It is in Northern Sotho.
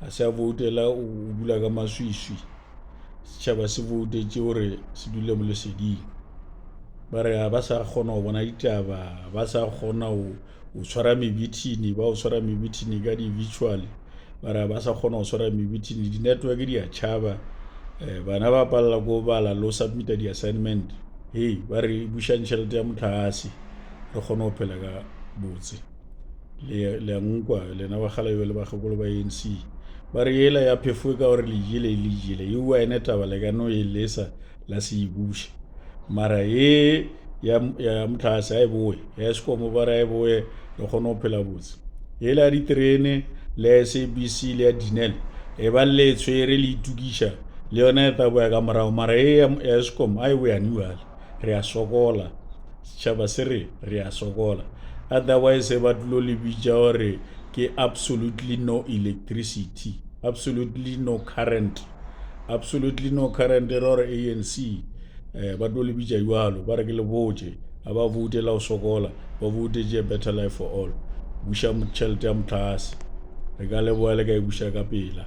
a se a voutela o dula ka maswiswi setšhaba se voutetše gore se dule mo leseding ba re ga ba sa kgona go bona ditaba ba sa kgona go tshwara mebithini ba go tshwara mebithini ka di-virtual ba re ga ba sa kgona go tshwara mebithini di-network di a tšhaba um bana ba palela ko bala le go submita di-assignment hei ba re bušang tšhelete ya motlhagase re kgone go phela ka botse le a nkwa lena ba gala jale ba gakolo ba anc ba re yela ya phefo e ka gore le jele e le jele e wa ene taba le ka no e lesa la se e buša mara ye ya motlhase a e boe ya sekomo ba re a e boe re kgone go phela botse yela ya diterene le ya sabc le ya dinel e ba le e tshwere le itukiša le yone e tla boya ka morago mara ye ya sekomo a e boyane jale re a sokola Tšhaba se re, re a sokola. Otherwise ba tlo le bitša gore ke absolutely no electricity, absolutely no current. Absolutely no current e ra gore ANC eh, ba tlo le bitša jwalo, ba re ke le botše, ga ba voute la go sokola, ba voutetše a better life for all. Buša tšhelete ya motlase. Re ka leboa le ka e buša ka pela.